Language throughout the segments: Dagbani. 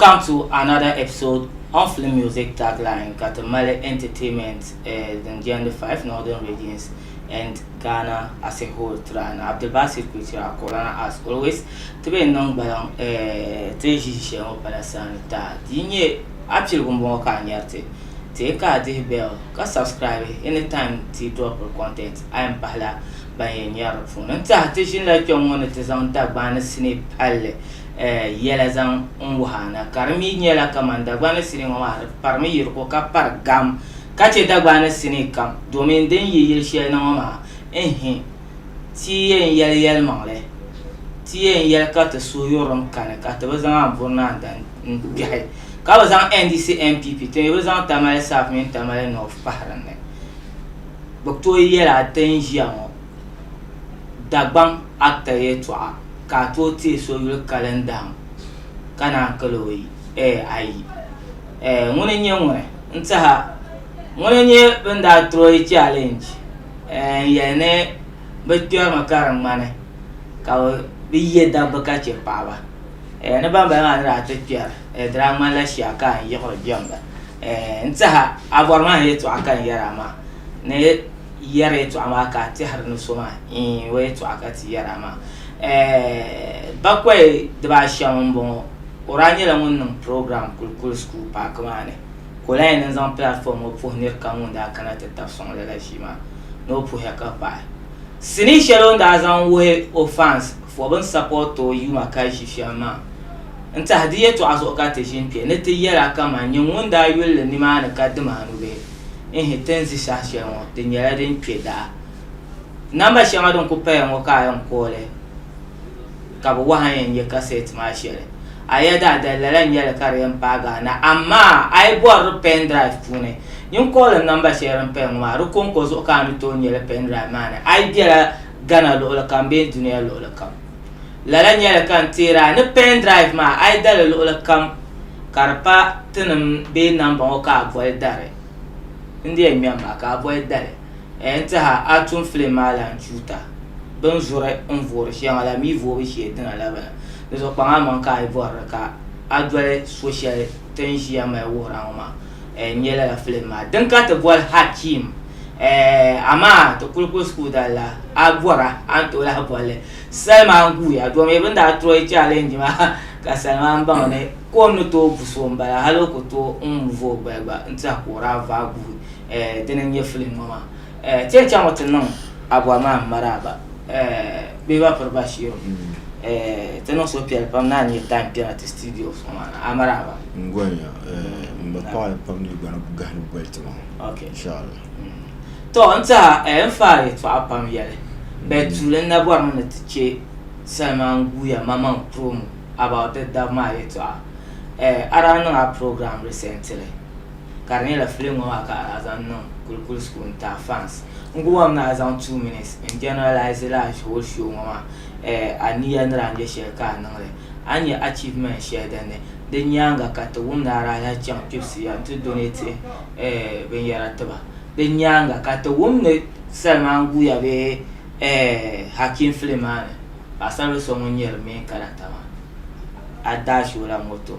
Welcome to another episode on Film Music Tagline ka ti mali entertainment eh, din jɛndi five northern regions and Ghana as a whole tira ni Abdulbasir Kuitira Corona as always ti be niŋ gbaliŋ eh, ti ʒi shɛli ŋɔ pala sani ta di nyɛ a piligu m-bɔŋɔ ka a nyari ti ti ka a dihi bell ka subscribe anytime ti dropiri content a yɛn pahila ban yɛn nyari di puuni n-tiɛha ti ʒinila kpɛŋ ŋɔ ni ti zaŋ Dagbani sinii palli yɛla zaŋ n wuhi a na, ka di mi nyɛla kaman Dagbani sinii ŋɔ maa di parimi yiri ko ka pari gam ka chɛ Dagbani sinii kam domin din yi yili shɛli ni ŋɔ maa n-hi ti yɛn yɛli yɛlimaŋli, ti yɛn yɛli ka ti suhuyurilim kani ka ti bi zaŋ Anburinan n-kpɛhi, ka bi zaŋ NDC NPP ti mi bi zaŋ Tamale South mini Tamale North pahi din ni, bi tooi yɛli a ti ni ʒiya ŋɔ. Dagbaŋ Actor yɛltɔɣa ka a tooi teei so yuli kali n-dahim ka naan kali o yi, ɛɛ ayi. Ɛɛ ŋuni n-nyɛ ŋuni? N tɛha, ŋuni n-nyɛ bɛn daa troyi challenge ɛɛ n-yɛli ni bɛ kpɛri mi ka di ŋmani ka bɛ yɛ dabba ka chɛ paɣiba. Ɛɛ ni bambala maa ni daa ti kpɛri ɛɛ di daa ŋmanila shia ka a ni yiɣiri jɛmda. Ɛɛ n tɛha, a bɔri ma a ni yɛltɔɣa ka n yɛri a maa ni. Yɛri yɛtɔɣa maa ka a tɛhiri ni so maa iin o yɛtɔɣa ka ti yɛri a maa. Eh, bakɔi dibaa shɛm m-bɔŋɔ. O daa nyɛla ŋun niŋ program Kulikuli School Paaki maa ni ka o lahi yɛn niŋ zaŋ platform ŋɔ puhi nir kam ŋun daa kana ti tab sɔŋ lala ʒii maa ni o puhiya ka pahi sinii shɛli o ni daa zaŋ wuhi o fans fo bɛn support o yuma ka ʒi shɛm maa. N tahi di yɛtɔɣa zuɣu ka ti ʒi n-kpe ni ti yɛra kaman nyɛ ŋun daa yuli li nimaani ka dim anu bee? Ihi, ti ni zi saha shɛli ŋɔ di nyɛla din kpe daɣa. Namba shɛŋa din ku paya ŋɔ ka a yɛn koo li ka bi wahi a yɛn nyɛ kasɛt maa shɛli. A yɛda dali lala n-nyɛ li ka di yɛn paagi a na amaa a yi bɔri di pen drive puuni nyin koo li namba shɛli din paya ŋɔ maa di kɔŋko zuɣu ka a ni tooi nyɛ li pen drive maa ni a yi bela Ghana luɣili kam bee duniya luɣili kam. Lala nyɛla ka n teeri a ni pen drive maa a yi dali luɣili kam ka di pa tinim bee namba ŋɔ ka a boli dari. N di yɛn ŋmɛm maa ka a boli dali. N ni tehi a a ni tum filim maa lan chuuta. Bɛn zuri n voori shɛŋa la mi voobu shee dina la bala. Di zuɣu kpaŋ amaŋ ka a yi bɔri di ka a doli so shɛli ti ni ʒiya mali wuhir a ŋɔ maa. n nyɛla la filim maa din ka ti boli hakim amaa ti kuli kuli sukuu dalla a bɔra a ni tooi lahi bolli salima n guuya domi bin daa troyi challenge maa ka salima n baŋ ni kom ni tooi bu so n bala hali o ku tooi n muvi o gbaya gba n tiɛha ka o daa vaai guui dini n nyɛ filim ŋɔ maa eh, ti yɛn chaŋmi ti niŋ Abua Maam maraaba eh, Kpeba Piri Bashiru mm. eh, ti niŋ suhupiɛlli pam ni a nyɛ time kpɛna ti studio so maa ni a maraaba n gɔnya eh, n ba paɣa pam ni gba ni gahi ni boli ti maa okay. inshallah mm. to n tiɛha eh, n faari yɛtɔɣa pam yɛli bɛ tuuli n na bɔrimi ni ti chɛ salima n guuya mamaŋ promo about the dab maa yɛtɔɣa eh, a daa niŋ a program recently ka di nyɛla film ŋɔ maa ka a zaŋ niŋ kulikuli school n taai fans n ku wam ni a zaŋ two minutes n generalize la whole show ŋɔ maa eh, a niya ni daa nyɛ shɛli ka a niŋli a ni nyɛ achievement shɛli din ni di nyaanga ka ti wum ni a daa lahi chaŋ kpibisiya n ti donate eh, binyɛra tiba di nyaanga ka ti wum ni Salman guya bee eh, Hakim film maa ni paɣasaribili so ŋun nyɛ di main character maa a dash o la moto.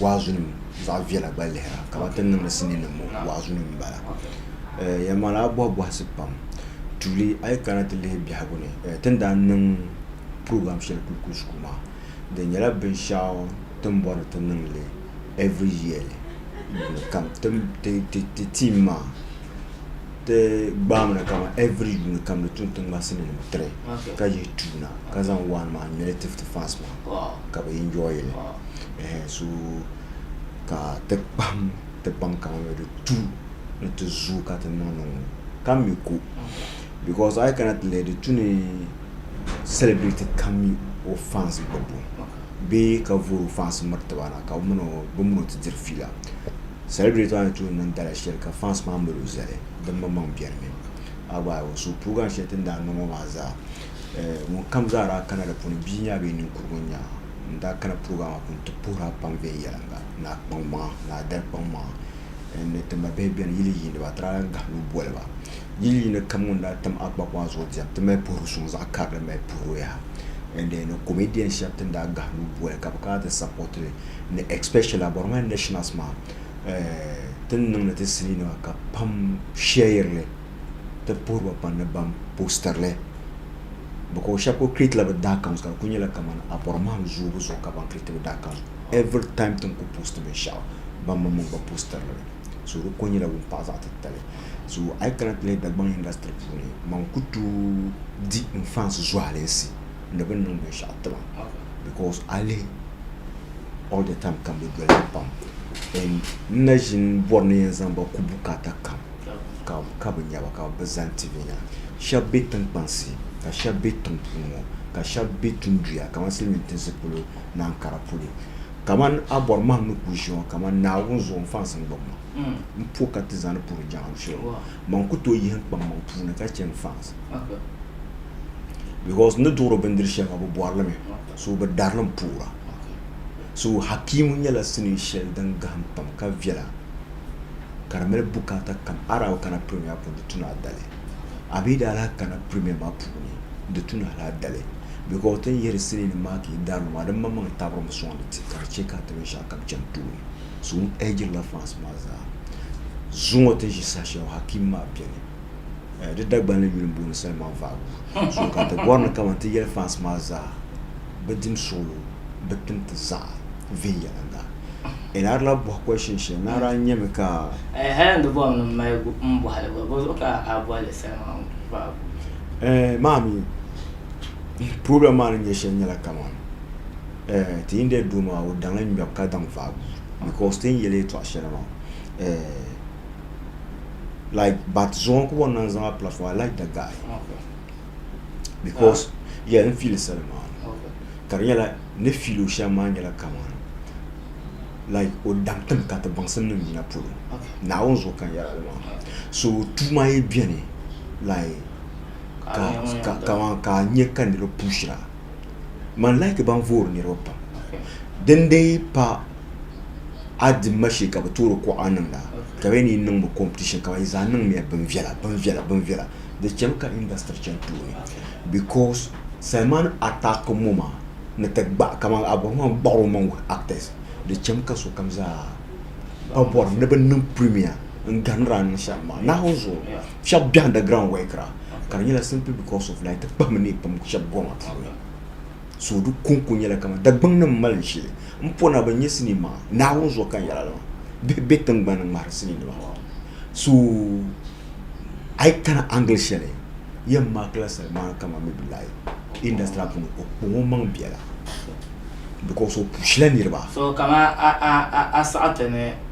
waazunim zaɣ viɛla gba lihira ka ba ti niŋdi sinii nim ŋɔ waazunim m-bala. Yɛli maa la a bɔhi bɔhisi pam. Tuuli a yi kana ti lihi biɛhigu ni ti ni daa niŋ program shɛli Kulkul School maa di nyɛla binshɛɣu ti ni bɔri ti niŋ li every yearly yuuni kam. Ti team maa. Ti gbaami ni kaman every yuuni kam ni tum tiŋmasinnim tiri ka yihi tuuna ka zaŋ one man mini ti fti fans maa ka bɛ enjoy li ehe so ka ti kpahim ti baŋ kaman bɛ di tu ni ti zooi ka ti niŋ niŋ ka mi ko because a yi kana ti lihi di tu ni celebrity kam mi o fans gbubu bee ka vori o fans miri ti ba na ka bɛ min o ti diri fiila. Celebrate maa ni tuun niŋ dala shɛli ka fans maa mali o zali dimmaŋmaŋ biɛrimi. A gba o suhu puugan shɛli ti ni daa niŋ o maa zaa ŋunkam zaa daa kana di puuni bia nya bee ninkurigu nya n daa kana puugan maa puuni ti puhir a pam viɛnyɛliŋga ni a kpaŋmaŋa ni a dari kpaŋmaŋa n ni ti ma bihi beni yili yiiniba a ti daa lan gahim lu boli ba. Yili yiini kam ŋun daa tam akpako maa zuɣu diɛm ti mali puhiri suŋ zaɣ karili mali puhir o yaha n ni comedian shɛba ti ni daa gahim lu boli ka bɛ kana ti sapoti li. ni especially a bɔrima nationals maa ti ni niŋdi ti sinii nima ka pam share li ti puhiri ba pam ni ban poster li because shɛba kuli create la bɛ daa accounts ka di kuli nyɛla kaman a bɔrimahim zoobu zuɣu ka ban create bɛ daa accounts every time ti ni kuli post binshɛɣu ban maŋ maŋ gba poster li so di kuli nyɛla wumpaɣa zaɣi titali so a yi kana ti lihi Dagbaŋ industry puuni man kuli tooi di n fans zualinsi. ni bɛ niŋ binshɛɣu ti ba because a lihi all the time ka bɛ doli ba pam and n na ʒini bɔri ni yɛn zaŋ ba ku bukaata kam ka ka bɛ nya ba ka bɛ zani ti bɛ nya shɛba be tiŋkpansi ka shɛba be tiŋ puuni ŋɔ ka shɛba be tunduya kamani silimin tinsi polo ni Ankara polo kamani a bɔri mahim ni ku ʒiya ŋɔ kamani Naawuni zuɣu n fansi n-gbubi ma m-po ka ti zani puri jaŋa m-firi o. man ku tooi yihi n-kpaŋ maŋ puuni ka chɛ n-faans. Because n ni duɣiri bindiri shɛli maa bɛ bɔri li mi, so bɛ dari li m-puhira. So Hakiimu nyɛla sinii shɛli din gahim pam ka viɛla ka di mali bukaata kam. A daa bi kana Premier puuni nti tu ni a dali, a mi daa lahi kana Premier maa puuni nti tu ni hal a dali because ti ni yihiri siniinim maa ka yi dari li maa di mmaŋmaŋ tabirimi sɔŋdi ti ka di chɛ ka a ti binshɛɣukam chani tooni. Zuŋɔ ɛhijirila France maa zaa. Zuŋɔ ti ʒi saha shɛli Hakim maa beni di Dagbanli yuli m-booni Salman Vagu zuɣu ka ti bɔri ni kaman ti yɛli France maa zaa bɛ dim suɣulo bɛ tim ti zaɣ viɛnyɛliŋga. Enaari lahi bɔhi question shɛli, Naari a nyami ka. Ehe, n di bɔri ni m mali m bɔhi li gba, bɔzuɣu ka a boli li Salman Vagu? Ehe, maa mi, problem maa ni nyɛ shɛli nyɛla kaman. Eh, ti yi ni daa doo maa, o daŋ n ŋmɛbu ka daŋ vaai guui because ti ni yɛli yɛtɔɣ shɛli maa eh, like bat zuɣu n-ku bɔŋ naŋ zaŋ a platform, I like the guy because yeah n feel sali maa ka di nyɛla ni feel o shɛm maa nyɛla kamani like o daŋ tim ka ti baŋsim nim yina polo Naawuni zuɣu ka n yɛrila li maa so tuu maa yi beni like ka ka kamani ka a nya ka niriba puushira Man laaki ban voori niriba pam. Din dee pa a di ma shee ka bi toori kuɣa niŋda ka bɛ ni niŋ bi competition ka ba zaa niŋ miya bin viɛla bin viɛla bin viɛla di chɛmi ka industry chɛni tooni because Salman attack mo maa ni ti gbaɣi kamani Abraham gbaɣi o maŋ with actors di chɛmi ka sokam zaa pa bɔri ni bi niŋ premier. n ganira ni shɛm maa nahu zuɣu shɛb biɛhi da ground wɛkira ka di nyɛla simply because of like ti kpahimi ni pam shɛb goma puuni so di konko nyɛla kama dagbaŋ nim mali shili n pona bin nyɛ sinii maa nahu zuɣu ka yɛla lima bihi bɛ tingbani ŋmahari sinii nima so a yi kana angle shɛli yɛn maakila salima kama mi bi layi industry puuni o kpaŋo maŋ biɛla because o pushila niriba so kama a a a a saɣati ni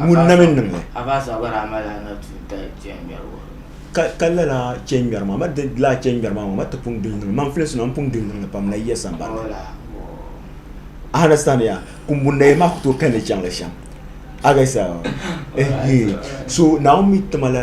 Ŋuni na mi niŋ li? Ka lala chɛ ŋmɛri maa, ma di laa chɛ ŋmɛri maa maa, ma ti pun gili niŋ li. Maŋ filinsi maa, m pun gili niŋ li pam, Nayiya sambani ni. A understand ya? Kumbunnayiya maa ku tooi kani chaŋ li shɛm. A gesa? Ehe! So Naawuni mi ti ma la.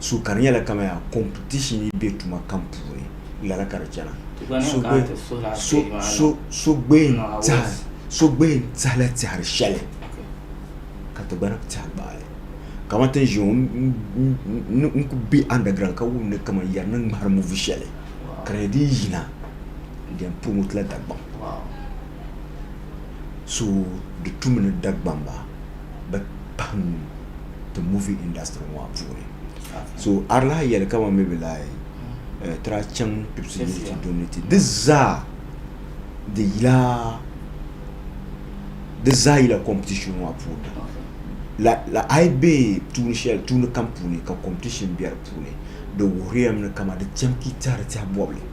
So ka di nyɛla kamaya competition yi be tuma kam puuni lala ka di chana. So gbehi n-tihila tɛhiri shɛli ka ti gba ni bi tɛhi gbaai li. Kamani ti ni ʒiya ŋɔ n kuli be underground ka wum ni kamani yari ni ŋmahiri movie shɛli ka di nyɛ din yina di yɛn promote la Dagbaŋ. so di tumi ni Dagbamba bi pahim ti movie industry ŋɔ maa puuni so arlahi yɛli ka man mi bi lahi eh, tira chaŋ pipsi ni ti doni ti di zaa di yila di zaa yila competition ŋɔ maa puuni la la ayi be tuuni shɛli tuuni kam puuni ka competition be di puuni di wuhiriyam ni kama di chɛm ka i tɛhiri tɛha bɔbili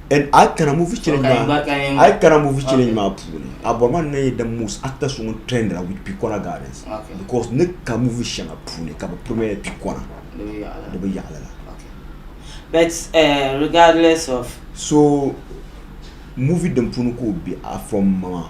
And a kana movie challenge Okay, maa, okay, yeah. a kana movie challenge Okay. maa puuni, a bɔri maa ni nyɛ the most actor so ŋun trendira with Pikɔna Gardens. Okay. Because ni ka movie shɛŋa puuni ka bi premier Pikɔna Di bi yaɣi la. di bi yaɣili la. Okay. But eh, regardless of So movie din puuni ka o be a from ma maa.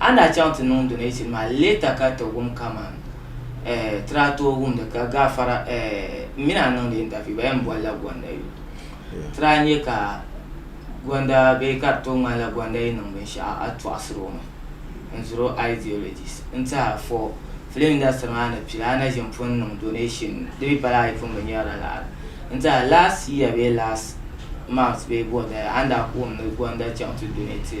A ni daa chaŋ ti niŋ donation maa later ka ti wum kaman eh ti daa tooi wumdi ka gaafara eh m mi ni a niŋdi interview ba yɛn bolila Gonda youth ti daa nya ka Gonda bee ka di tooi ŋmanila Gonda yi niŋ binshɛɣu a tɔɣisiri o mi n ziri o ideologies n ti a for film industry maa ni pili a na ʒin pun niŋ donation di mi pala a yi pun bi nya ralari n ti a last year bee last month bee bɔda a ni daa ku wum ni Gonda chaŋ ti donate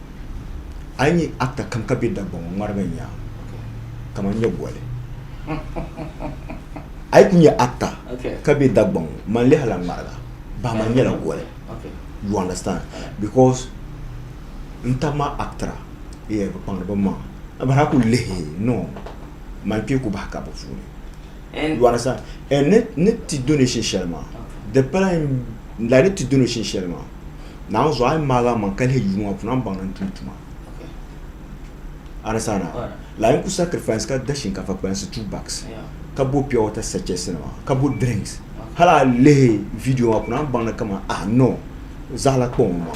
a yi nya actor kam ka be Dagbaŋ ŋɔ ŋmarigi n yaa kaman nyɛ goli a yi ku nya actor ka be Dagbaŋ ŋɔ man lihi la ŋmariga bahi man nyɛla goli you understand because n tab ma actra yeah bi kpaŋdi bi maŋa a bahi a ku lihi no man kpee ku bahi ka bi puuni you understand and ni ti donation shɛli maa di pala like ni ti donation shɛli maa. Naawuni zuɣu a yi maagi a maŋa ka lihi duu maa puuni a ni baŋ ni n tumdi tuma la n ku sacrifice ka da shinkaafa kpalansi two bags ka bo pure water sachets nima ka bo drinks hali a lihi video maa puuni a ni baŋ ni kamani ah no zaɣila kpaŋ n bɔŋɔ.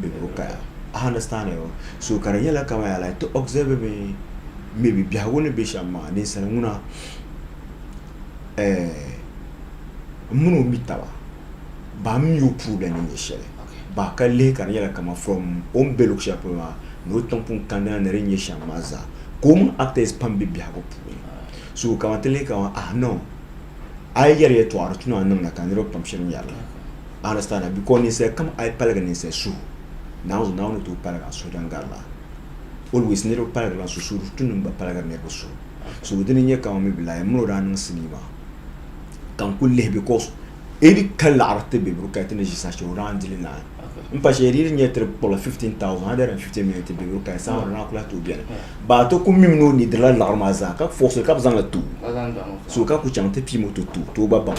bɛ ni bi kaya. A understand it? So ka di nyɛla kamani yaa like ti observe mi maybe biɛhigu ni be shɛm maa ninsali ŋuna eh m mini o mi taba baa m mi o puhi bɛ ni nyɛ shɛli baa ka lihi ka di nyɛla kamani from o ni be luɣi shɛli polo maa ni o tiŋpun kandina ni di nyɛ shɛm maa zaa ka o mini actors pam be biɛhigu puuni so kamani ti lihi kamani ah no a yi yɛri yɛtɔɣa di tuna niŋda ka niriba pam shiri ŋmɛri li. I understand that? Because ninsal kam a yi paligi ninsal suhu, Naawuni zuɣu, Naawuni ni tooi paligi a suhu din gari la. Always niriba paligi la suhu, suhuri tunim gba paligiri niriba suhu. So dini n-nyɛ ka maybe like mini o daa niŋ sinii maa ka n kuli lihi because any kali laɣiri ti Beburu kaya ti ni ʒi saha shɛli o daa n dili naai. M pa shɛli di yi nyɛ tiri kpɔbila 15,000, 150 million ti Beburu kaya saha maa di daa kuli lahi tooi beni. Baa ti kuli mimi ni o neediri la laɣiri maa zaa ka force li ka bɛ zaŋ li ti o. So ka kuli chaŋ ti piim o ti ti o, ti o gba baŋ.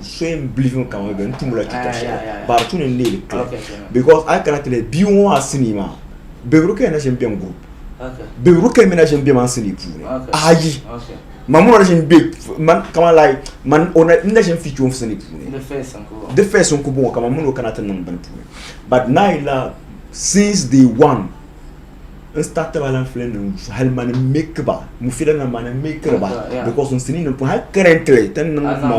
so n believe in kama n tumula chuta shɛli but tuni n leeli clear because a kana ti bia ŋɔ maa sinii maa bɛbiri ka na ʒin bɛn group bɛbiri ka mi na ʒin bɛ man sinii puuni ayi ma muna ʒin bɛ man kama lai man o na ʒin fi chuun sinii puuni di fɛs n ku bɔŋɔ kama mun o kana ti niŋ bini puuni but naa yila since day one n start ba lan fili nim hali mani make ba mu fila na mani make ba because n sini nim hali currently tin niŋ ma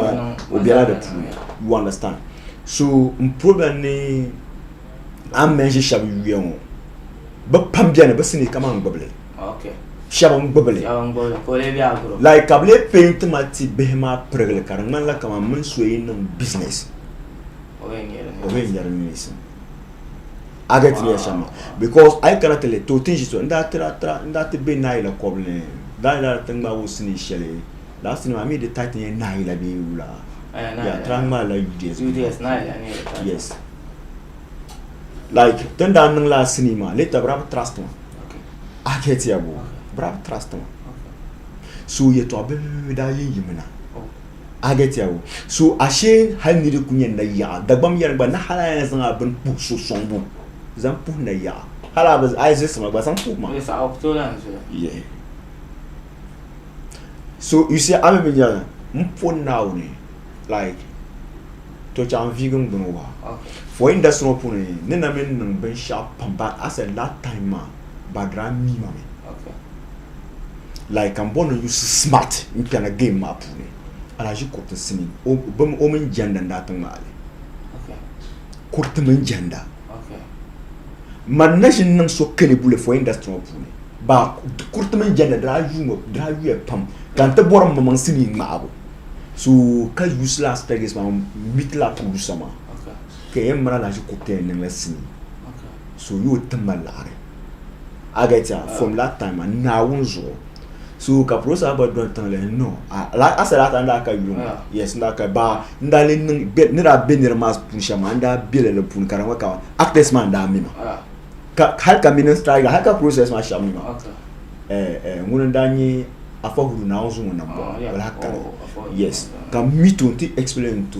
o biɛla di puuni you understand so n problem ni an mention shɛba yuya ŋɔ bi pam biɛni bi sini kama n gbibili shɛba n gbibili like ka bi lee paint ma ti bihi maa pirigili ka di ŋmanila kama mini so yi niŋ business o yɛn nyɛri neesim a get me shama because I kana tele to tin shi so n daa tira tira n daa ti be naayila kɔbili ni daa daa ti ŋmaa o sini shɛli daa sini maa mi di tight nyɛ naayila bee wula ya tira ŋmaa la UDS UDS naayila ni yes like tin daa niŋ la sini maa later bira bi trust ma a get ya bo bira bi trust ma so yɛtɔɣa bihi bihi daa yi yimina A get ya go? So ashe hali niri ku nyɛ nayaɣa Dagbam yɛri gba ni hali a yɛn zaŋ a bini puhi so sɔŋbu zaŋ puhi nayaɣa hali a bi a yi zilisi ma gba zaŋ puhi ma Yes, I'll tell her and say. Yeah. So you see a mi mi nyɛla n po Naawuni like to chɛŋ n viigi n gbuni wa Okay. for industry ŋɔ puuni ni na mi niŋ binshɛɣu pam but as a last time maa ba dira mi ma mi Okay. like n bɔni yusi smart n kpɛna game maa puuni alaji kuriti n simi o mini jɛnda n daa ti ŋmaali kuriti mini jɛnda man na ʒini niŋ so kɛli buli fo industry ŋɔ puuni ba kuriti mini jɛnda daa yuya pam ka n ti bɔri mmaŋ simi ŋmaabu so ka yusi la aspect maa n mitila tuuli sama ka yɛn mali alaji kuriti yɛn niŋla simi so yo ti ma laɣari a get ya from that time a naawun zuɣu so ka prosa gba don tiŋli no a sɛ daa ka n daa ka yuŋ yes n daa ka ba n daa li niŋ ni daa bɛ nira maa puuni shɛm maa n daa bɛ lala puuni ka di ŋɔ ka actors maa n daa mi ma hali ka mini striker hali ka process maa shɛm mi ma ŋuni n daa nyɛ afa huru naawun zuŋu na bɔ wala ka yes ka mi to n ti explain to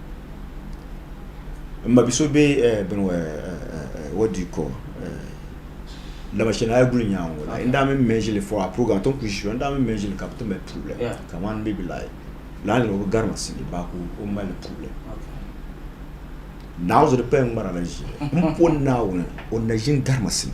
n ma bi so bɛ bini what do you call lamashanaya guli nyaanga la n daa mi mɛ ʒili for our program a tom kuli ʒiya n daa mi mɛ ʒili ka bi ti mali problem kaman maybe like lala niriba gari mi sili baa ka o mali problem naawuni zuɣu di paya ŋmara la ʒiya n pɔ Naawuni o ni na ʒini gari mi sili.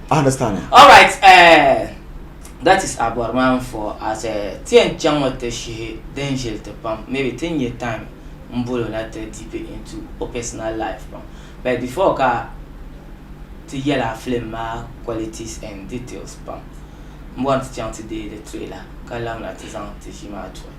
I understand ya. All right, eh, that is a bɔri maa n-fɔɔ as eh, ti yɛn chaŋ mi ti shihi din ʒili ti pam, maybe ti ni nya time m-bol o na ti deep into o personal life pam. But before ka ti yɛl a film maa qualities and details pam, m-bɔri ni ti chaŋ ti deei di trailer ka labina ti zaŋ ti ʒii maa tuhi.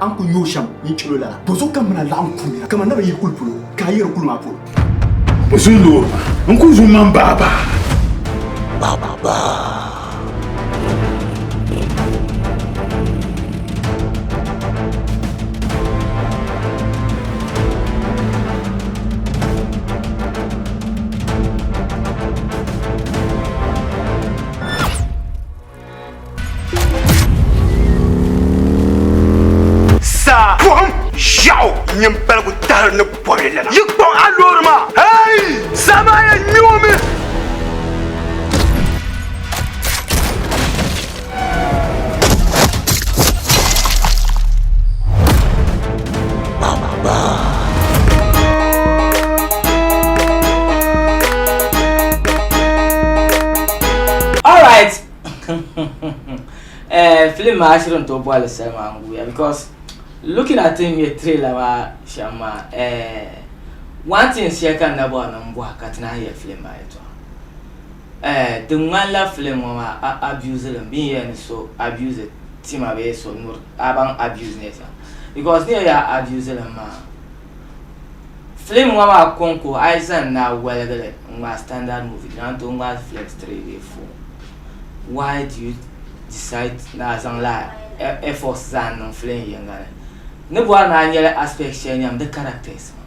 A ni ku yooi shɛm ni n chɛl o lala, bɔzɔbo ka m mini a laɣim kuri nira kaman naba yihi kuli polo, ka a yiri kuli maa polo. Bɛ zo loori maa n-kuli zo m-maŋ baabaa. Baabaa. Saa buɣum ʒiɛɣu nyini paligu tahiri ni bɔbi lala. Yi kpaŋ a loori maa. Hey! Saa maa yɛn nyoomi. Eh, film maa shiri n tooi bɔhili salima n guya because looking at him ye trailer maa shɛm maa eh, one thing shɛli ka n na bɔhiri ni n bɔha ka ti naan yɛli film maa yɛltɔɣa Eh di ŋmanila film ŋɔ maa a abuse li mi bee n yɛli ni so abuse tima bee so nyuri a baŋ abuse ni sa because n yɛli a abuse li mi maa film ŋɔ maa kɔŋko a yi zaŋ na waligi li n ŋmaai standard movie di lan tooi ŋmaai films three bee four why do you decide ni a zaŋ la efforts zaa n niŋ film yiŋga ni ni bɔri ni a nyɛla aspect shɛli nyam di characters maa.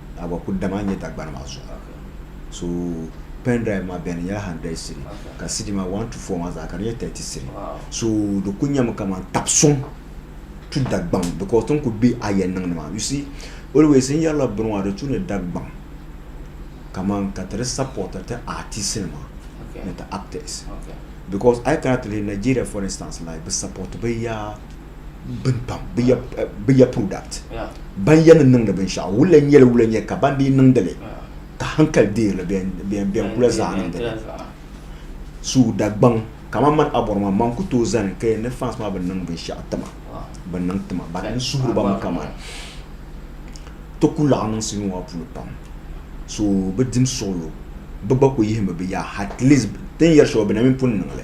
a gba kuli dama n nyɛ Dagbani maa zuɣu so pen drive maa beni nyɛla 100 cedi ka cedi maa 1 to 4 maa zaa ka di nyɛ 30 cedi so di kuli nyɛmi kaman tabi suŋ tu Dagbaŋ because tin kuli be a yɛn niŋdi maa you see always n yɛrila bini maa di tu ni Dagbaŋ kaman ka ti di support ti artist nima ni ti actors because a yi kana ti lihi Nigeria for instance like bi support bi ya bini pam bi ya bi ya product Yeah. ban ya ni niŋdi binshaɣu wula nyɛli wula nyɛ ka ban dii niŋdili ka hankali deerili bɛn bɛn bɛn kula zaa niŋdi li su Dagbaŋ kaman man abɔri maa man ku tooi zani ka yɛn ni fans maa bi niŋ binshaɣu tima Wow. bi niŋ tima ban n suhiri ba mi kaman ti ku laɣi niŋ sinima maa puuni pam so bi dim suɣulo bi gba ku yihimi bi ya at least ti ni yɛri shɛli maa bi na mi pun niŋ li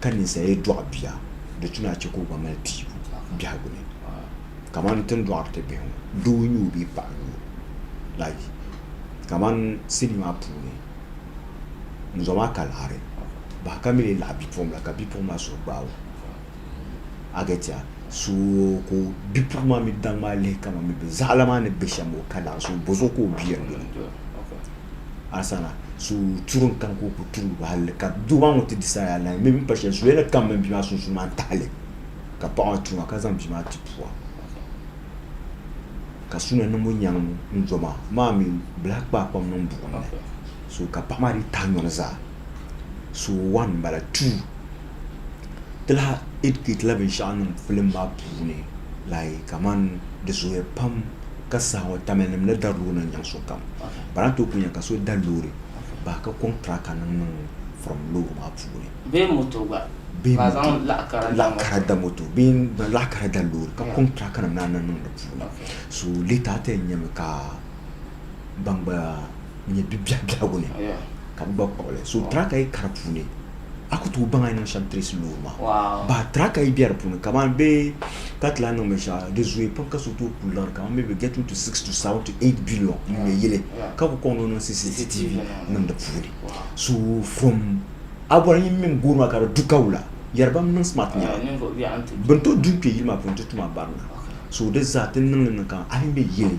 ka ninsal yi dɔɣi bia, di tu ni a chɛ ka o gba mali piibu biɛhigu ni, kamani ti ni dɔɣiri ti bihi ŋɔ, doo n-nyoo bee paɣa n-nyoo, like kamani sinii maa puuni ŋun zɔri maa ka laɣiri bahi ka mi lee laɣi bipuɣimbila ka bipuɣimbila suhu gbaai o. Agetia suo ka o bipuɣin maa mi daŋ maa lihi kaman mi bɛ zaɣila maa ni be shɛm o ka naɣ so bɔzuɣu ka o bia n-lu li. Asana so turi n-kani ka o ku turi ba hali ka doo maa ŋun ti di saha yaa nahi mi m-pa shɛli zuɣu ya ni kam mini bia maa sunsuuni maa n-taɣi li ka paɣa maa tuuma ka zaŋ bia maa ti pua ka su na niŋbu nyaŋ n-doma maa mi bilahi kpaai kpam niŋ buɣim ni so ka paɣa maa di tahi nyɔri zaa. so wan n bala tuu ti lahi ɛdikɛtila binshaɣu niŋ filim maa puuni like kamani di zooya pam ka saha ŋɔ tamil nim ni dari loori nim nyaŋ sokam bana n tooi ku nyɛ ka so dari loori bahi ka kɔŋ tiraka nim niŋ filim loori maa puuni bee moto gba bee ka zaŋ moto laɣa kara da laɣa moto kara da moto bee n bɛ laɣa kara da loori ka kɔŋ tiraka nim naan na niŋ di puuni so lɛta ti yɛn nyɛmi ka ban gba nyɛ bibiɛhi biɛhigu ni ka bɛ gba kpuɣi li. So daa ka yi kari puuni, a ku tooi baŋ a ni niŋ shɛm tirisi loori maa. Baa daa ka yi be di puuni, kamani bɛ ka ti lahi niŋ binshɛɣu, di zooya pam ka so tooi kuli liɣiri kamani maybe getting to six to seven to eight billion n-nyɛ yili ka ku kɔŋ ni o niŋ CCTV niŋ di puuni. So from a boli nyin mini gooni maa ka di du ka wula, yɛri bam niŋ smart nyɛla bɛ ni tooi du n-kpe yili maa puuni nti tum a barina. So di zaa ti niŋ li niŋ kamani a ni be yili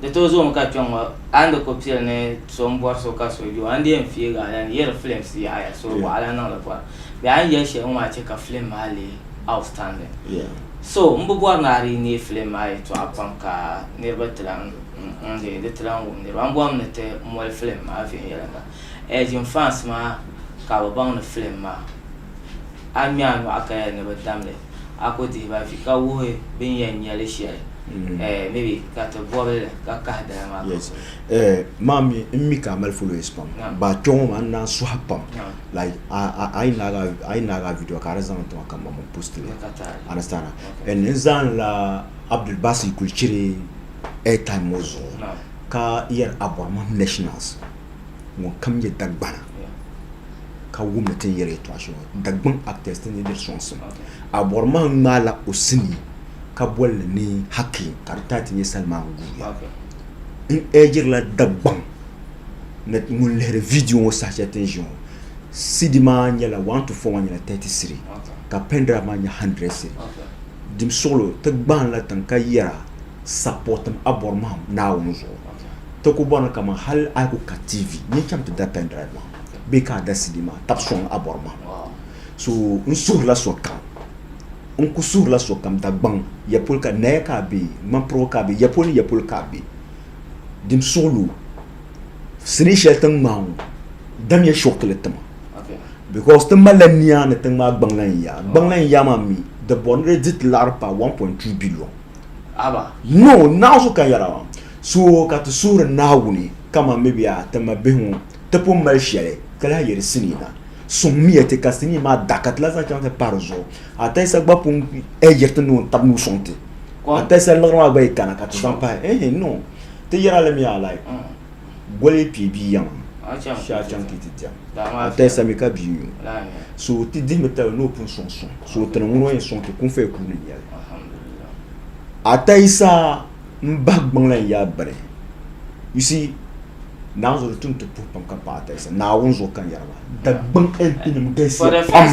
Di tooi zoomi ka kpɛŋ ŋɔ a ni di ku pili ni so m-bɔri so ka so je o, a ni di yɛn fiigi a lan yɛri films yaɣiya so waɣila niŋ li bɔra. Bee a ni yɛli shɛli ŋɔ maa che ka film maa lee outstanding. So m bi bɔri ni a di neei film maa yɛtɔɣa pam ka niriba ti lan n-ŋ-ŋ-ŋ di ti lan wum niriba. M bɔrimi ni ti moli film maa viɛnyɛliŋga. Ɛɛjin fans maa ka bɛ baŋ ni film maa. a ŋme a nyɔɣu ka yɛli ni bɛ dam li, a ku dihi ba vi ka wuhi bɛ ni yɛn nya li shɛli, mm-hmm. eh, maybe ka ti bɔbi li ka kahi dala maa. Yes. Eh, maa mi n mi ka a mali followers pam. Ba kpɛ ŋɔ maa n naan suhi pam. Like, a yi naaga a video ka a di zaŋ tiŋa ka mma post li. Understand? And n zaan la Abdul Basi kuli chiri airtime ŋɔ zuɣu ka yɛri Abormah Nationals. ŋun kam nyɛ Dagbana ka wum ni ti ni yɛli yɛtɔɣa shɛŋa Dagbaŋ actors ti ni diri sɔŋsim. Abɔri maa ŋmaa la o sinii ka boli li ni Hakim ka di taati nyɛ Salman Guya. N urgiri la Dagbaŋ ni ŋun lihiri video ŋɔ saha shɛli ti ni ʒiya ŋɔ CD maa nyɛla one to four maa nyɛla thirty cedi ka pen drive maa nyɛ hundred cedi. Dimsuɣilo ti gbahin la tiŋ ka yɛra sapɔtim Abɔri Mahim Naawuni zuɣu. Ti ku bɔrimi kaman hal a ku ka TV ni cham ti da pen drive maa bee ka a da CD maa tab sɔŋ a bɔri mahim. So n suhirila sokam, n ku suhirila sokam Dagbaŋ ya polo ka naya ka a be, ŋmanpirigu ka a be, ya polo ni ya polo ka a be, dim suɣili o sinii shɛli tiŋ maa ŋɔ damiya shokili ti ma because ti malila nia ni tiŋ maa gbaŋ lan yaa. Gbaŋ lan yaa maa mi di bɔri ni di di ti laɣiri paai 1.2 billion. Haba. No, naɣizu ka yɛra maa. So ka ti suhiri Naawuni, kaman mibiɛɣu a ti ma bihi ŋɔ, ti pun mali shɛli, ka lahi yɛli sinii na, Sɔŋmiya ti, ka sinii maa da, ka ti lahi zaŋ chaŋ ti pahi di zuɣu. A talisa gba pun yiri ti ni o ni tab ni o sɔŋ ti. A talisa liɣiri maa gba yi kana, ka ti zaŋ pahi. Ehe, no, ti yɛri alimiya alayi. Goli pii bia yaŋ shaa chaŋ ti ti diɛm a tali sami ka bia nyu so ti dihimi tali ni o pun suŋ suŋ so tini ŋuna yɛn suŋ ti kun faya kuuni nyɛli a tali saa n bahi gbaŋla n yaa bari you see naawuni zuɣu di tum ti puhi pam ka paɣa tali sa naawuni zuɣu ka yɛrima da gbaŋ LP nim galisiya pam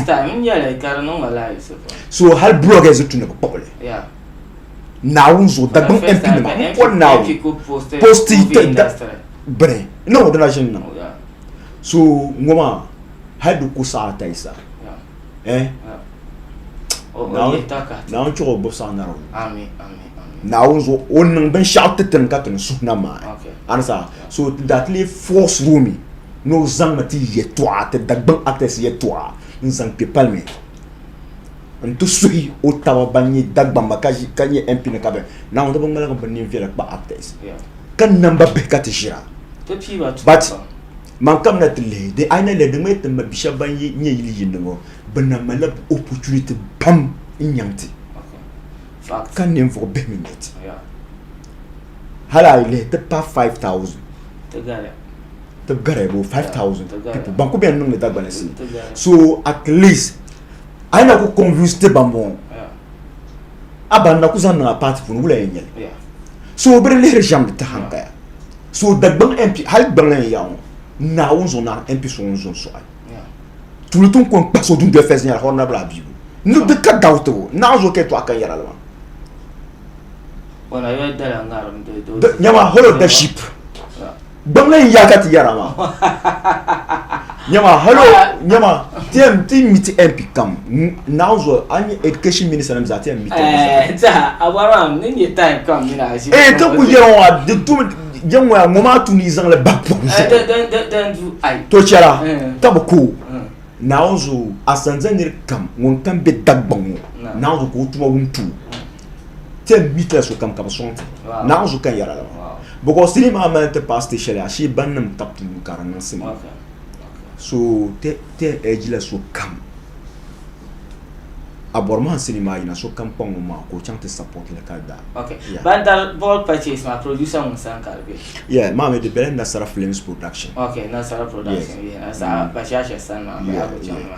so hali blog ɛzi tu ni bi kpuɣili naawuni zuɣu dagbaŋ mp nima n kɔri naawuni posti bini n na wadana ʒini na so ŋɔ maa hali di ku saɣa ta yi sa eh naawuni chuɣu gbubi saɣa nara naawuni zuɣu o niŋ binshaɣu ti tini ka tini suhuna maa anisa so datili force roomi ni o zaŋ na ti yɛtɔɣa ti dagbaŋ actors yɛtɔɣa n zaŋ kpe paliment n ti suhi o taba ban nyɛ Dagbamba ka nyɛ MP ni ka bɛ Naawuni di bi ŋmaligi bi nin viɛla kpa actors ka namba bihi ka ti ʒira but man kam na ti lihi di ayi na lihi di ŋmɛ timma bi shɛba ban nyɛ yili yinni ŋɔ bi na malila bi opportunity pam n nyaŋ ti ka ninvuɣu bihi mi nyɛ ti hali ayi lihi ti pa 5000 ti gariya boo 5000 people ban ku bɛn niŋdi Dagbana sini so at least a ye na ko confusion tɛ ban bɔn a ban na ko zan niŋ a party puuni wula yɛn nyɛli so o bɛ di lihiri shɛm di tahi n paya so Dagbaŋ MP hali Gbaŋ yɛn yaɣi ŋɔ Naawuni zuɣu naani MP so ŋun zo n sɔɣi tuuli ti ni kɔŋ kpa so dundoli fɛs nyɛla honourable Abibu ni di ka doubt o naɣi zuɣu ka yɛn tɔɣi ka yɛra li maa nyama holourship. Gbamli n ya ka ti yɛra maa. Nyama hello nyama ti yɛn ti mi ti MP kam naɣu zuɣu a ni education minister nim zaa ti yɛn mi ti. Ee ti ku yɛra ŋɔ a di tum jɛn ŋɔ ya ŋɔ maa tu ni zaŋli ba pɔbi zuɣu to chɛra ka bi ku naɣu zuɣu a sanza niri kam ŋun kam bɛ Dagbaŋ ŋɔ naɣu zuɣu ka o tuma wum tu. ten meters sokam ka bi sɔŋ ti naɣa zuɣu ka n yɛra laba because tini maa mali ti paasi ti shɛli ashee ban nim ka puu ka di niŋ sima so ten edge la sokam a bɔri maa sini maa yina sokam kpa ŋun maa ka o chaŋ ti support li ka da ban dali ball purchase maa producer ŋun san ka di bɛ yeah maa mi di bɛla nasara films production okay nasara production yeah nasara bashasha san maa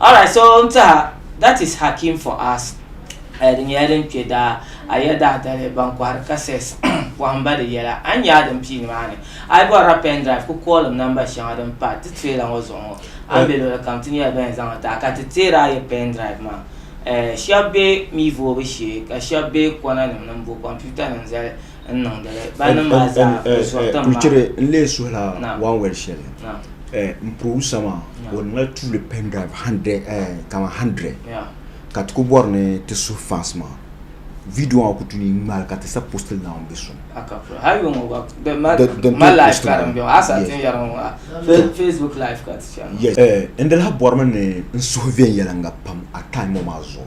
Alright so n tiɛha that is hakim for us eh, di nyɛla din kpe daa a ya daa dali ban kɔhiri cassettes pɔhimba di yɛla a ni nya a din pii nimaani a yi bɔrila pen drive ku koolim namba shɛŋa din pa ti trailer ŋɔ zuɣu ŋɔ a ni be luɣili kam ti nyɛla ban zaŋ li taai ka ti teeri a ya pen drive maa eh, shɛba be mi voobu shee ka shɛba be kɔna nim ni m bo computer nim zali n suhila wan wɛri shɛli n pɔbu sama o nila tuuli pɛn drive kama handirɛ ka ti ku bɔri ni ti suhi fans maa vidiyo maa ku tu ni ŋmaai ka ti sa post n zaŋ bɛ suhu n dila bɔrimi ni n suhu viɛnyɛliŋga pam a time ŋɔ maa zuɣu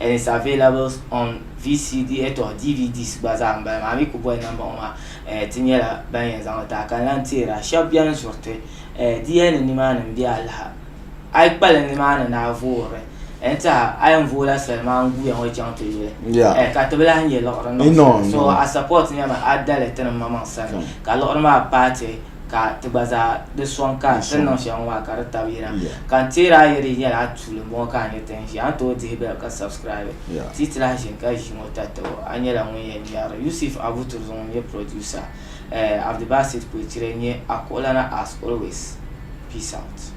and it's available on VCD eh, to DVDs gba zaa m-bala maa mi ku boli namba ŋɔ maa eh, ti nyɛla ban yɛn zaŋ li taai ka lan teera shɛb bɛn zuriti eh, di yɛli ni nimaani m-be alaha a yi kpali nimaani ni a voori n tiha a yɛn vooi la soli maa n-guuya ŋɔ chaŋ ti yuli Yeah. eh, ka ti bi lahi nyɛ liɣiri You know, niŋ so you know. a support nyɛmi a dali ti ni maŋmaŋ sani Come. ka liɣiri maa paati ka ti gba zaa di sɔŋ ka ti niŋ shɛŋa ŋɔ maa ka di tabi yira ka n teeri a yɛli nyɛla a tuuli n bɔŋɔ ka a nyɛ ti n ʒi a ni tooi dihi bɛli ka subscribe ti yi ti lahi ʒini ka ʒi ŋɔ ta tabo a nyɛla ŋun yɛn nyɛri Yusuf Abuturzum ŋun nyɛ producer Abdibasit Kwekyire n-nyɛ a kuɣulana as always peace out.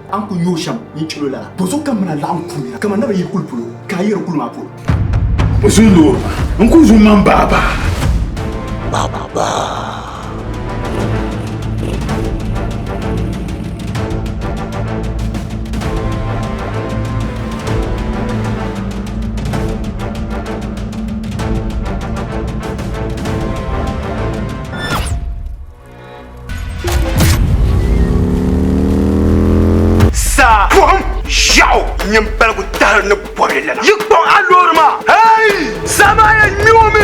A ni kul yooi shɛm yi ni chɛl o lala, bɔzɔ ka m mini a laɣim kul nira kaman naba yi kul polo, ka a yɛri kul maa polo. O zuyu loori ma, n kul zu m-maŋ baabaa. Baabaa. Saa buɣum ʒiɛɣu nyini paligu tahiri ni bɔbili lana. Yi kpaŋ a loori maa. Hey! Saa maa yɛn ŋmɛ o mi.